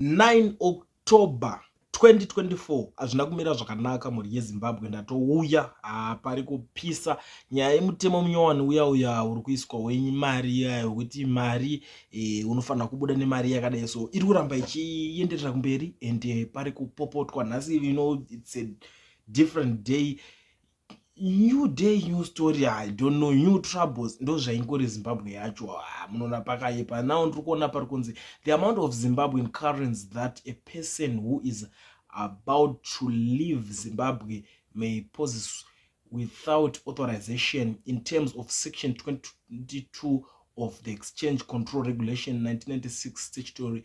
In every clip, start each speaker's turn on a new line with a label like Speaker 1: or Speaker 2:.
Speaker 1: 9 october 2024 hazvina kumira zvakanaka mhuri yezimbabwe ndatouya hapari kupisa nyaya yemutemo munyowani uya uya uri kuiswa wenyu mari iya yekuti mari e, unofanira kubuda nemari yakadai so iri kuramba ichienderera kumberi and eh, pari kupopotwa nhasi ino its a different day new day new story i don't know new troubles ndo zvaingori zimbabwe yacho ah, munoona pakayepa now ndiri kuona pari kunzi the amount of zimbabwean currents that a person who is about to leave zimbabwe may poses without authorization in terms of section 22 of the exchange control regulation 1996 statutory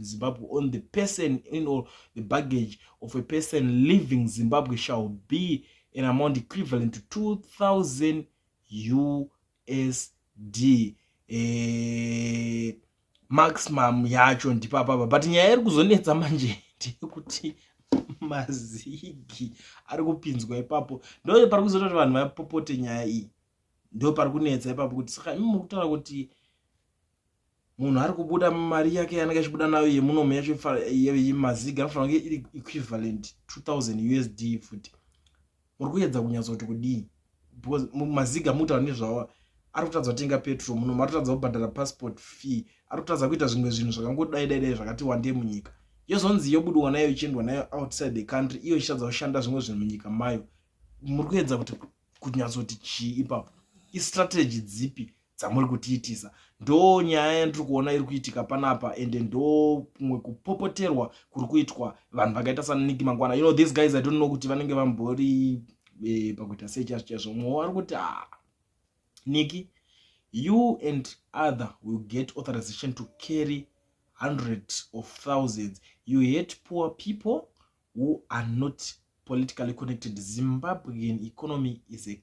Speaker 1: Zimbabwe on the person in all the baggage of a person leaving Zimbabwe shall be an amount equivalent to 2000 USD eh, maximum yacho ndipapapa but nyaya iri kuzonetsa manje ndeyekuti mazigi ari kupinzwa ipapo ndo pari kuzoita kuti vanhu vapopote nyaya iyi ndo pari kunetsa ipapo kuti saka imi mukutaura kuti munhu ari kubuda mari yake yanenge achibuda nayo yemunomu yacho yemaziga anofanira kunge iri equivalent 2000 usd futi muri kuyedza kunyatsa kuti kudii because maziga mutaura nezvawa ari kutadza kutenga petrol munomu ari kutadza kubhadhara passport fee ari kutadza kuita zvimwe zvinhu zvakangodai dai dai zvakati wande munyika yozonzi yobudiwa nayo ichiendwa nayo outside the country iyo ichitadza kushanda zvimwe zvinhu munyika mayo muri kuyedza kuti kunyatsa kuti chii ipapo istrategy dzipi dzamuri kutiitisa ndo nyaya yandiri kuona iri kuitika panapa ende ndo kumwe kupopoterwa kuri kuitwa vanhu vakaita saniki mangwana you know these guys i don't know kuti vanenge vambori e, pakuita sei chazvo chaizvo mumwe wari kuti a ah, niki you and other will get authorization to carry hundreds of thousands you hate poor people who are not politically connected zimbabwean economy is a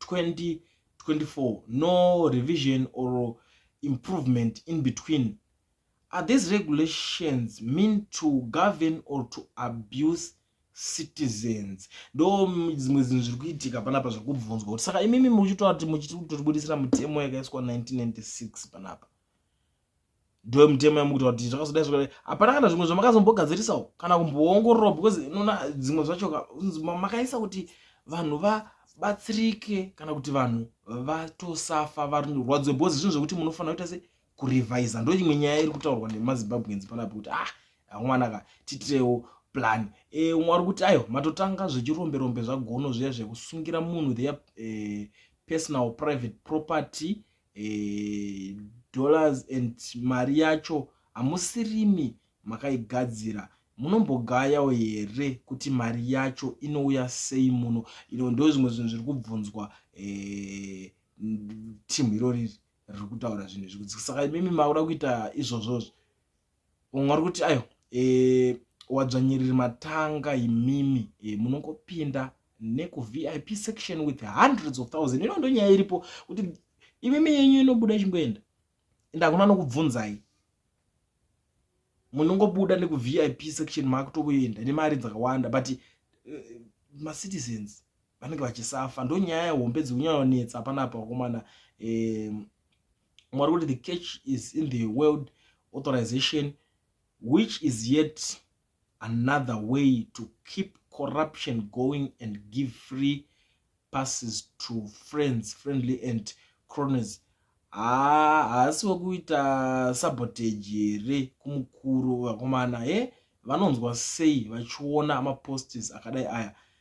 Speaker 1: 2024 no revision or improvement in between are these regulations mean to govern or to abuse citizens ndo dzimwe zinhu zviri kuitika panapa zviri kubvunzwa kuti saka imimi muchitoati muchitotibudisira mutemo yakaiswa 1996 panapa ndoyo mutemo yamukutaura kuti zvakazodai zvakadai hapana kana zvimwe zvamakazombogadzirisawo kana kumboongorora because nona dzimwe zvacho makaisa kuti vanhu vabatsirike kana kuti vanhu vatosafa varwadziwe because zvinhu zvekuti munofanira kuita se kurevisa ndo imwe nyaya iri kutaurwa nemazimbabweans panapo kuti ah amwana ka titirewo plan e, eh, umwe ari kuti ayo matotanga zvechirombe rombe zvagono zviya zvekusungira munhu their e, personal private property e, dollars and mari yacho hamusirimi makaigadzira munombogayawo here kuti mari yacho inouya sei muno ino ndo zvimwe zvinhu zviri kubvunzwa e, timu irori riri kutaura zvinhu izvi kuti saka imimi makuda kuita izvozvozvo umwe ari kuti ayo e, wadzvanyiriri matanga imimi e, munongopinda nekuvip section with hundreds of thousand ino ndonyaya iripo kuti imimi yenyu inobuda ichingoenda ende hakuna nokubvunzai munongobuda nekuvip section maakutokuenda nemari dzakawanda but uh, eh, macitizens vanenge vachisafa ndonyaya hombe dzekunyanyonetsa panapa vakomana um, mwari kuti the catch is in the world authorization which is yet another way to keep corruption going and give free passes to friends friendly and crones haasi wekuita sabotage here kumukuru vakomana he vanonzwa sei vachiona mapostes akadai aya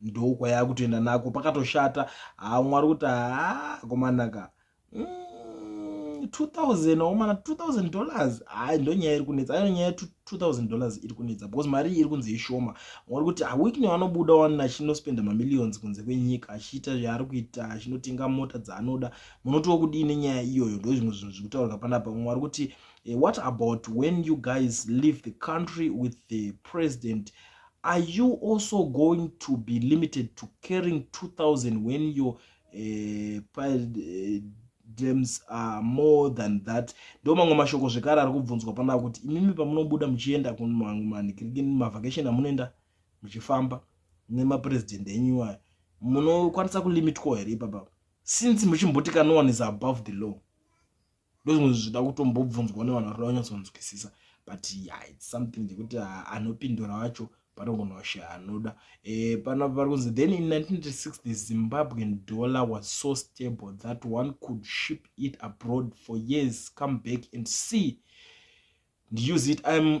Speaker 1: ndokwayaakutoenda nako pakatoshata haa mwari kuti haa komanaka mm. 2000 waumana 2000 dollars hayi ndonyaya iri kunetsa ayo nyaya 2000 dollars iri kunetsa because mari iyi iri kunzi ishoma mwauri kuti awikne wanobuda wani achinospenda mamillions kunze kwenyika achiita zvaari kuita achinotenga mota dzaanoda munotiwo kudii nenyaya iyoyo ndo zvimwe zvinhu zviri kutaurwa panapa mumwe ari kuti eh, what about when you guys leave the country with the president are you also going to be limited to carrying 2000 when your uh, uh, dreams are more than that ndo mamwe mashoko zvekare ari kubvunzwa panaa kuti imimi pamunobuda muchienda kumavacation amunoenda muchifamba nemapresident enyu iwayo munokwanisa kulimitwa here ipapa since muchimboti ka no one is above the law ndozvimwe zvida kutombobvunzwa nevanhu vari vanyatsonzwisisa but yeah, its something ndekuti ah, anopindura wacho panogona kushe anoda eh, pana vari kunzi then in 1996 the zimbabwean dollar was so stable that one could ship it abroad for years come back and see ndiuse it im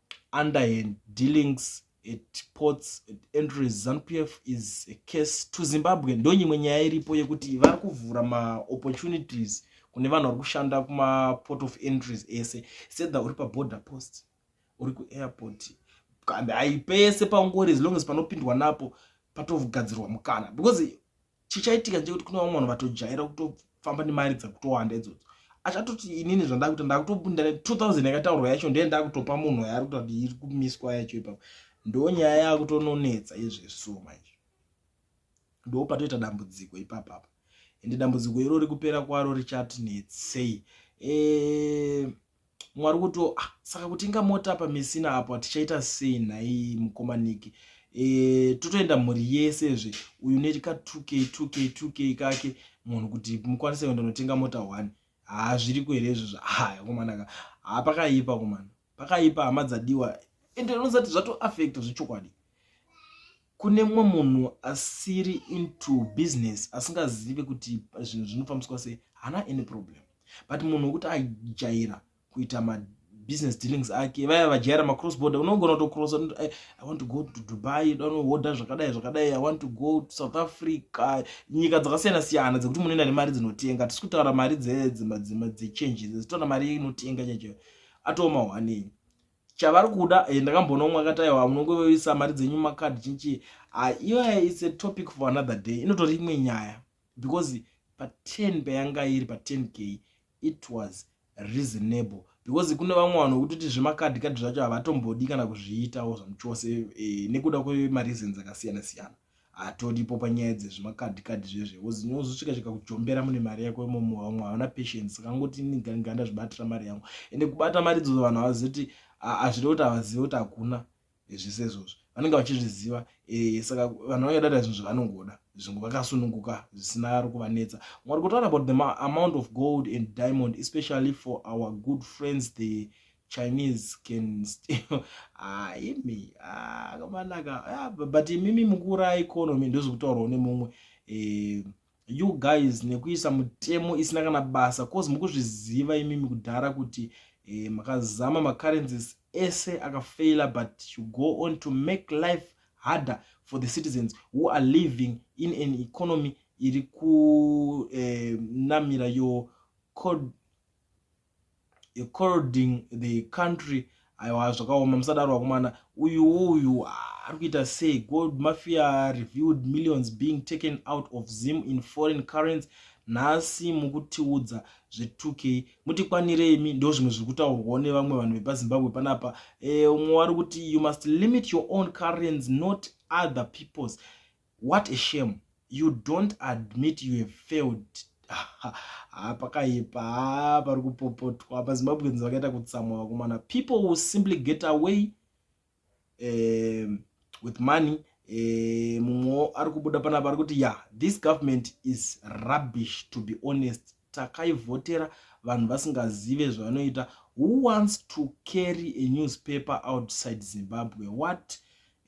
Speaker 1: underhand dealings at ports at entries zanupf is a case to zimbabwe ndonyimwe nyaya iripo yekuti vari kuvhura maopportunities kune vanhu vari kushanda kumaport of entries ese sedha uri paborder post uri kuairport kambe haipese pangori as long as panopindwa napo patogadzirwa mukana because chichaitika ndechekuti kune vamwe vanhu vatojaira kutofamba nemari dzakutowanda idzodzo achatoti inini zvandakuita ndakutobunda ne 2000 yakataurwa yacho ndiye ndakutopa munhu yaari kuta kuti iri kumiswa yacho ipapo ndo nyaya yakutononetsa izveso manje ndo patoita dambudziko ipapapa ende dambudziko iro rikupera kwaro richatinetsei eee eh, mwari kuti ah, saka kutenga mota apa mesina apo tichaita sei nhai mukoma niki e, eh, totoenda mhuri yese zve uyu neti ka 2k 2k 2k kake munhu kuti mukwanise kuenda unotenga mota one haa zviriko here izvozvo haya komanaka haa pakaipa komana pakaipa hama dzadiwa ende unozati zvatoafekta zvechokwadi kune mumwe munhu asiri into business asingazive kuti zvinhu zvinofambiswa sei haana any problem but munhu wekuti ajaira kuita mabusiness dealings ake vaya vajaira macross border unogona kutocross i want to go to dubai danohodha zvakadai zvakadai i want to go to south africa nyika dzakasiyana siyana dzekuti munoenda nemari dzinotenga tisi kutaura mari dzedzechange dzezitoona mari inotenga chacho atoomawanei chavari kuda eh, ndakamboona umwe akati aiwa munongoisa mari dzenyu makadhi chinchii ah, iyoya its a topic for another day inotori imwe nyaya because pa10 payanga iri pa10 k it was reasonable because kune vamwe vanhu vekutoti zvemakadhi kadhi zvacho havatombodi kana kuzviitawo zvamuchose eh, nekuda kwemareasons akasiyana siyana hatodipo panyaya dzezvimakadhikadhi zvezve bcause nyozosvika chika kujombera mune mari yako imomo vamwe havana patience saka ngoti iniganganda zvibatira mari yangu ende kubata mari dzozo vanhu havazivi kuti hazvide kuti havazive kuti hakuna zvese izvozvo vanenge vachizviziva e, saka vanhu vange data zvinhu zvavanongoda zvinhu vakasununguka zvisina ari kuvanetsa mwari kutaura about the amount of gold and diamond especially for our good friends the chinese can still ah, imi ah, akamanaka ah, but imimi mukura economy ndozikutaurwa une mumwe eh, you guys nekuisa mutemo isina kana basa cause mukuzviziva imimi kudhara kuti eh, makazama macurrencies ese akafaila but you go on to make life harder for the citizens who are living in an economy iri kunamira eh, your code corroding the country aiwa zvakaoma musadaro vakomana uyu uyu ah, ari kuita sei gold mafia reviewed millions being taken out of zim in foreign currents nhasi mukutiudza zve2k mutikwanire imi ndo zvimwe zviri kutaurwawo nevamwe vanhu vepazimbabwe panapa e, umwe wari kuti you must limit your own currents not other peoples What a shame you don't admit you have failed haa pakaipa haa pari kupopotwa mazimbabweans vakaita kutsamwa vakomana people will simply get away eh, with money eh, mumwewo ari kubuda panapa ari kuti ya this government is rubbish to be honest takaivhotera vanhu vasingazive zvavanoita who wants to carry a newspaper outside zimbabwe what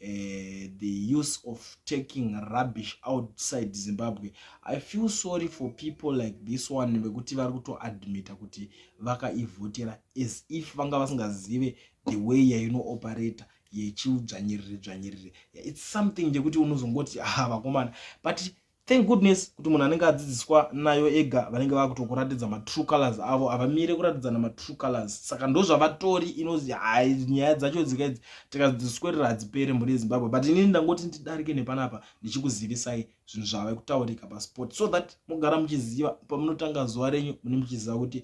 Speaker 1: uh, the use of taking rubbish outside zimbabwe i feel sorry for people like this one vekuti vari kutoadmita kuti vakaivhotera as if vanga vasingazive the way yainooperator yechiudzvanyiriri dzvanyiriri its something chekuti unozongoti ha ah, vakomana but thank goodness kuti munhu anenge adzidziswa nayo ega vanenge vakutokuratidza matrue colors avo havamire kuratidzana matrue colors saka ndozvavatori inozi hai nyaya dzacho dzika idzi tikadzidziswerera hadzipere mhuri yezimbabwe but inini ndangoti ndidarike nepanapa ndichikuzivisai zvinhu zvave kutaurika pasport so that mogara muchiziva pamunotanga zuva renyu mune muchiziva kuti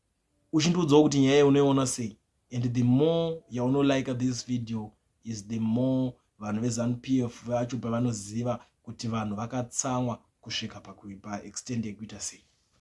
Speaker 1: uchindiudzawo kuti nyaya yaunoiona sei and the more yaunolike this video is the more vanhu vezanup f vacho pavanoziva kuti vanhu vakatsamwa kusvika pakuipa extend yekuita sei